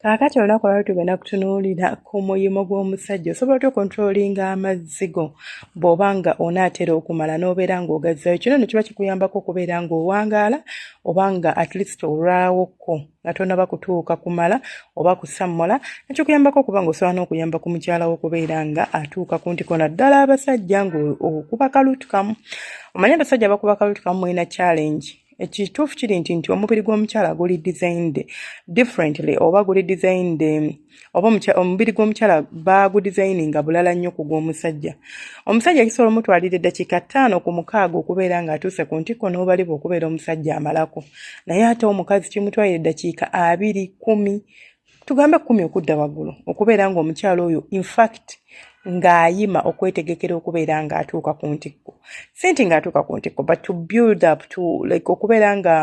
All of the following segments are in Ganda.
kaakati olunaku olwali tugenda kutunuulira ku muyimu gw'omusajja osobola otya okontrolinga amazzi go bw'oba nga onaatera okumala n'obeera ng'ogazzayo kino ne kiba kikuyambako okubeera ng'owangaala oba nga at least olwawokko nga tonaba kutuuka kumala oba kusammola nekikuyambako okuba nga osobola n'okuyamba ku mukyala wo okubeera nga atuuka ku ntiko naddala abasajja ngaokuba kalutukamu omanye abasajja bakuba kalutukamu mulina challenge ekituufu kiri nti nti omubiri gw'omukyala guli designed differently oba guli designed oba omubiri gw'omukyala baagudizayininga bulala nnyo ku gw'omusajja omusajja kisobola omutwalira eddakiika ttaano ku mukaaga okubeera ng'atuuse ku ntikko n'obalibwa okubeera omusajja amalako naye ate omukazi kimutwalira eddakiika abiri kumi tugambe kumi okudda waggulu okubeera ng'omukyala oyo infact ng'ayima okwetegekera okubeera ng'atuuka ku ntikko si nti ng'atuuka ku ntikko but to build up to like okubeera nga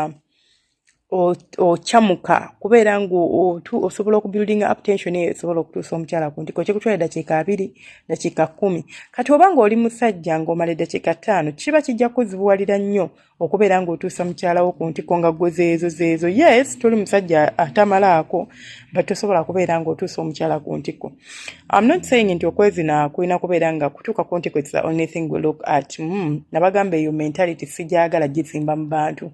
okyamuka kubeera ngaotu osobola okubuildinga uptension eyo esobola okutuusa omukyala ku ntiko kyekutwala eddakiika abiri dakiika kumi kati oba ngaoli musajja ngaomala eddakiika ttaano kiba kijja kuzibuwalira nnyo okubeera ngaotuusa mukyalawo ku ntiko nga gwe zeezo zeezo yes toli musajja atamalaako but tosobola kubeera ngaotuusa omukyala ku ntiko I'm not saying nti okwezina kulina kubeera nga kutuuka ku nti kwetisa only thing we look at mm, nabagamba eyo mentality sigyagala gizimba mu bantu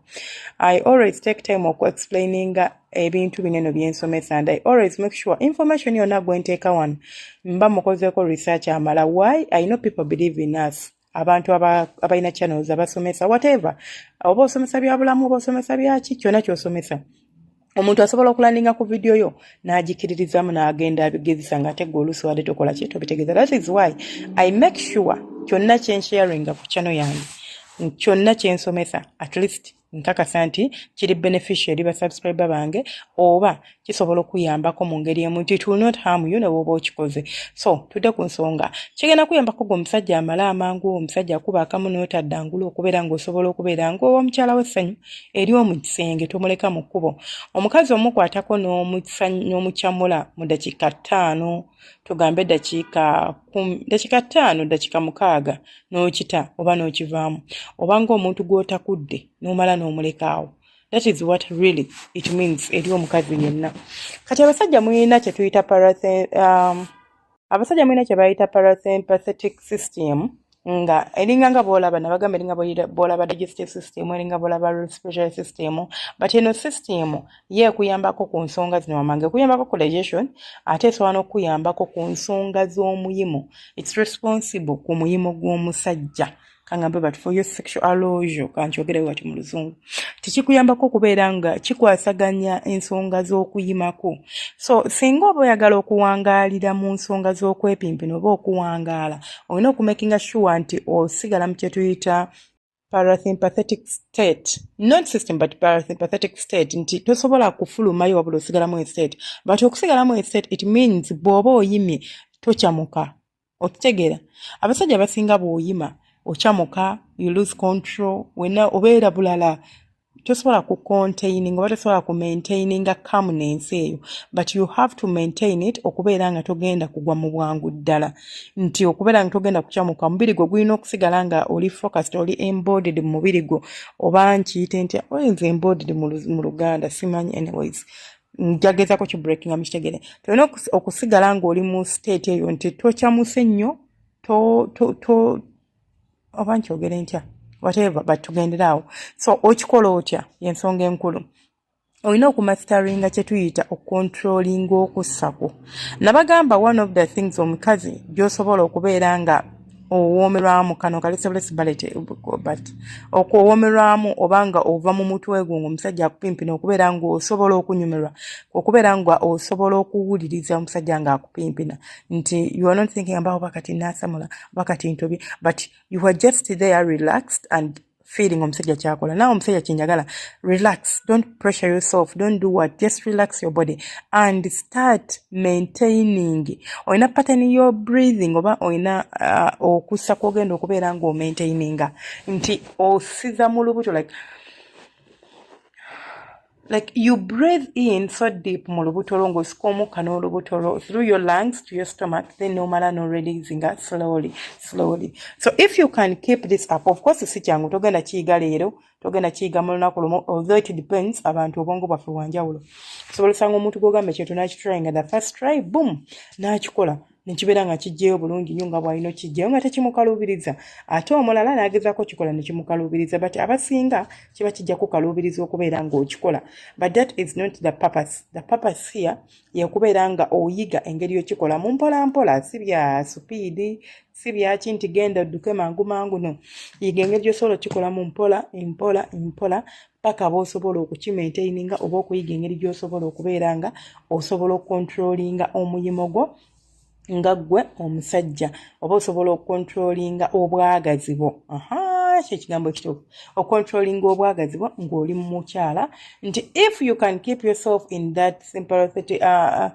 i always take time okuexplaininga ebintu bineno byensomesa and i always make sure information yona gwenteeka wano mba mukozeeko research amala why i know people believe in us abantu abalina channels abasomesa whatever oba osomesa byabulamu oba osomesa byaki kyona kyosomesa omuntu asobola okulandinga ku vidiyo yo n'agikiririzamu n'agenda abigezesa nga ate gwe oluusi wadde tokola ki tobitegeeza that is why i make sure kyonna kyensharinga ku chano yange kyonna kyensomesa at least nkakasa nti kiri beneficia eri basubscribe bange oba kisobola okuyambako mu ngeri emu nti it will not harm you nebwoba okikoze so tudde ku nsonga kigenda kuyambako gwe omusajja amala amangu omusajja akuba akamu notaddangula okubeera ngaosobola okubeera ngaowa omukyala wessanyu eri omu kisenge tomuleka mu kkubo omukazi omukwatako n'omucamula mu dakiika ttaano tugambe dakiika kumi dakiika ttaano dakiika mukaaga n'okita oba n'okivaamu oba ng'omuntu gw'otakudde n'omala n'omulekaawo that is what really it means eri omukazi yenna kati abasajja mulina kye tuyita um, abasajja mulina kye bayita parasympathetic system nga elinga nga bwolaba nabagamba elinga bwolaba digestive system elinga bwolaba respiratory system but eno system ye ekuyambako ku nsonga zino wamange ekuyambako ku digestion ate esobola n'okukuyambako ku nsonga z'omuyimo its responsible ku muyimo gw'omusajja kangamba but for your sexual alojo kankyogerayo wati mu luzungu tekikuyambako okubeera nga kikwasaganya ensonga z'okuyimako so singa oba oyagala okuwangaalira mu nsonga z'okwepimpina oba okuwangaala olina okumakinga sure nti osigala mu kyetuyita parasympathetic state not system but parasympathetic state nti tosobola kufulumayo wabula osigalamu estate but okusigalamu estate it means bw'oba oyimye tocamuka okitegeera abasajja basinga bwoyima okyamuka you lose control wena obeera bulala tosobola ku containing oba tosobola ku maintaininga kamu nensi eyo but you have to maintain it okubeera nga togenda kugwa mu bwangu ddala nti okubeera nga togenda kukyamuka omubiri gwo gulina okusigala nga oli focused oli embodied mu mubiri gwo oba nkiyite ntya olinza embodied mu luganda simanyi anyways njagezako ki breakinga mukitegere tolina okusigala ngaoli mu state eyo nti tokyamuse nnyo to to to oba nkyogere ntya whatever but tugendere awo so okikola otya yensonga enkulu olina okumasteringa kyetuyita okontrolinga okussako nabagamba one of the things omukazi gyosobola okubeera nga owoomerwamu kano kali sebless ballet but okuwoomerwamu oba nga ova mu mutwe gwo ngaomusajja akupimpina okubeera ngaosobola okunyumirwa okubeera nga osobola okuwuliriza omusajja nga akupimpina nti you are not thinking about oba kati nasamula oba kati ntobye but you are just there relaxed and feeling omusajja kyakola nawe omusajja kyenjagala relax don't pressure yourself don't do what just relax your body and start maintaining olina pattern your breathing oba olina uh, okussa kwogenda okubeera nga omaintaininga nti osiza mu lubuto like like you breathe in so deep mu lubuto lwo ng'osika omukka n'olubuto lwo through your lungs to your stomach then nomala no releasing it slowly slowly so if you can keep this up of course si kyangu togenda kiyiga leero togenda kiyiga mu lunaku lumu although it depends abantu obwongo bwaffe bwanjawulo osobola osanga omuntu gwogamba ekintu nakitrayinga the first try boom nakikola nekibeera nga kijjeyo bulungi nyo nga bwalina okijjayo nga tekimukaluubiriza ate omulala nagezako kikola nekimukaluubiriza but abasinga kiba kijja kukaluubiriza okubeera nga okikola but that is not the purpose the purpose here yekubeera nga oyiga engeri yokikola mu mpola mpola si bya supiidi si byaki nti genda odduke mangu mangu no yiga engeri gyosobola okikola mu mpola empola empola paka b'osobola okukimaintaininga oba okuyiga engeri gy'osobola okubeera nga osobola okukontrolinga omuyimo gwo nga ggwe omusajja oba osobola okukontrolinga obwagazi bwo aha kye kigambo ekituufu okontrolinga obwagazi bwo ng'oli mu mukyala nti if you can keep yourself in that sympathetic uh, uh,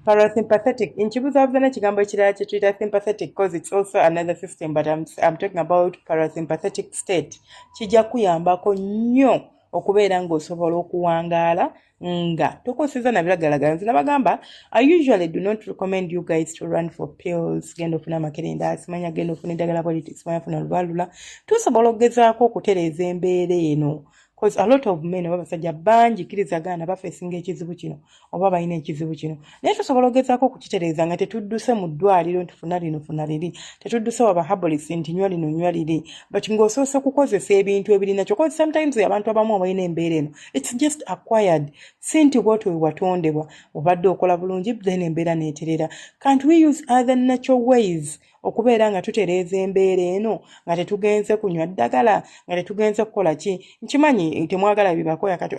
parasympathetic nkibuzabuza n'ekigambo ekirala kye tuyita sympathetic cause its also another system but I'm, I'm talking about parasympathetic state kijja kuyambako nnyo okubeera ng'osobola okuwangaala nga tokoseza nabiragalagala nze nabagamba i usually do not recommend you guys to run for pills genda ofuna amakerenda simanya genda ofuna eddagala politics manya funa lubalula tusobola okugezaako okutereeza embeera eno Cause a lot of men oba basajja bangi kiriza gaana bafesinga ekizibu kino oba balina ekizibu kino naye tusobola ogezaako okukitereeza nga tetudduse mu ddwaliro nti funa lino funa liri tetudduse waba habolis nti nywa lino nywa liri but ng'osoose kukozesa ebintu ebirina kyo cause sometimes abantu abamu abalina embeera eno its just acquired si nti bwoti wewatondebwa obadde okola bulungi then embeera neeterera can't we use other natural ways okubeera nga tutereeza embeera eno nga tetugenze kunywa ddagala nga tetugenze kukola ki nkimanyi temwagala bibakoya kati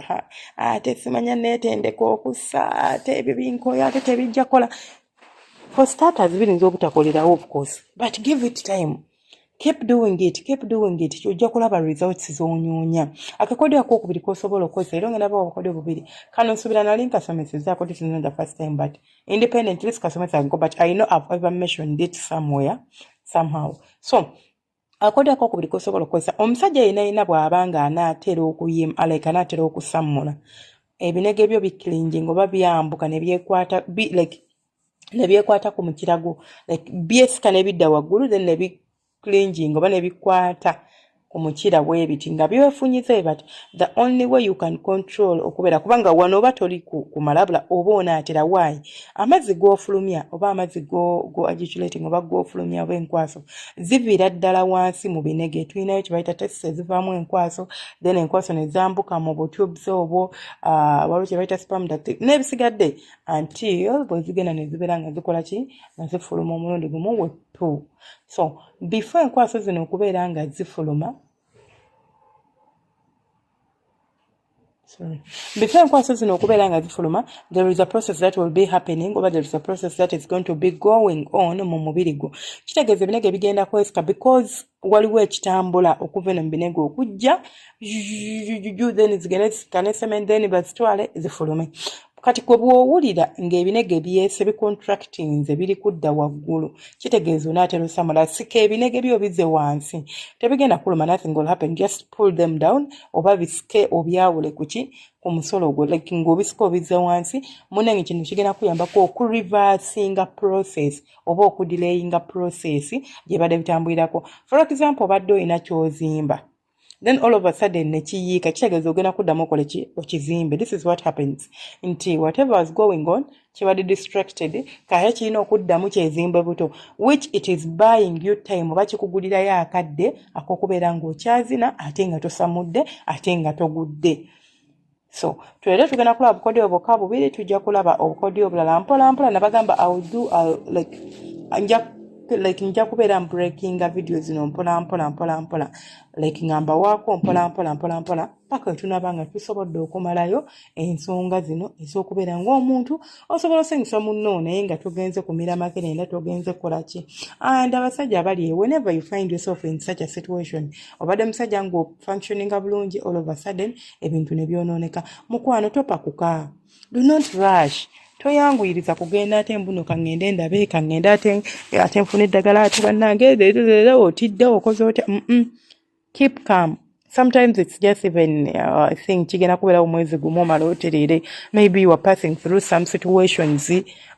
ate simanya neetendeka okussa ate ebyo binkoya ate tebijja kukola for starters birinza obutakolerawo of course but give it time keep doing it keep doing it ojja kulaba results zonyunya akakodyo akokubiri kosobola okukozesa era ongenaba obukodyo bubiri kano nsubira nali nkasomesezaako this is not the first time but independent this customer can go but i know i've ever mentioned it somewhere somehow so akoda ko kubiri kosobola kwesa omusajja yena yena bwabanga anatera okuyim aleka anatera okusamula ebinege byo bikilingi ngoba byambuka ne byekwata bi like ne byekwata ku mukirago like byesika ne bidda wagulu then ne bi clinging oba nebikwata ku mukira bwebiti nga byefunyize but the only way you can control okubeera kubanga wano oba toli kumalabula oba onaatera waayi amazzi gofulumya oba amazzi goagiculating oba gofulumya oba enkwaso ziviira ddala wansi mu binege tulinayo kyebayita test ezivaamu enkwaso then enkwaso nezambuka mu butubes obwo ah, waliwo kyebayita spam dat nebisigadde until bwezigenda nezibeera nga zikola ki nga zifuluma omulundi gumu wettu so before enkwaso zino okubeera nga zifuluma Sorry. Before enkwaso zino okubeera nga zifuluma there is a process that will be happening oba there is a process that is going to be going on mu mubiri gwo kitegeeza ebinege bigenda kwesika because waliwo ekitambula okuva eno mu binege okujja then zigende zikane cement then bazitwale zifulume kati kwe bw'owulira ng'ebinege byese bicontractinze biri kudda waggulu kitegeeza onaatera osamula sika ebinege byo bize wansi tebigenda kuluma nothing will happen just pull them down oba bisike obyawule kuki ku musolo ogwo like ng'obisika obize wansi munange kino kigenda kuyambako okureversinga process oba okudilayinga process gye badde bitambulirako for example obadde olina kyozimba then all of a sudden nekiyiika kitegeeza ogenda kuddamu okole ki okizimbe this is what happens nti whatever was going on kibadde distracted kaye kirina okuddamu kyezimbe buto which it is buying you time oba kikugulirayo akadde akokubeera ng'okyazina ate nga tosamudde ate nga togudde so twere tugenda kulaba bukodyo bokka bubiri tujja kulaba obukodyo obulala mpola mpola nabagamba iwill do uh, like nja like nja kubeera mbreakinga vidiyo zino mpola mpola mpola mpola like nga mbawaako mpola mpola mpola mpola paka wetunaba nga tusobodde okumalayo ensonga zino ez'okubeera ng'omuntu osobola osanyusa munno naye nga togenze kumira makerenda togenze kukola ki and abasajja abali e whenever you find yourself in such a situation obadde musajja ng'ofunctioninga bulungi all of a sudden ebintu ne byonooneka mukwano topakuka do not rush toyanguyiriza kugenda ate mbuno kaŋŋende ndabe kaŋŋende ate ate nfuna eddagala ate bannange leero otidde okoze otya keep calm sometimes it's just even uh, i think kigenda kubeerawo omwezi gumu omala otereere maybe you are passing through some situations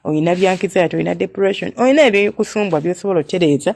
olina byankiza yate olina depression olina ebikusumbwa byosobola otereeza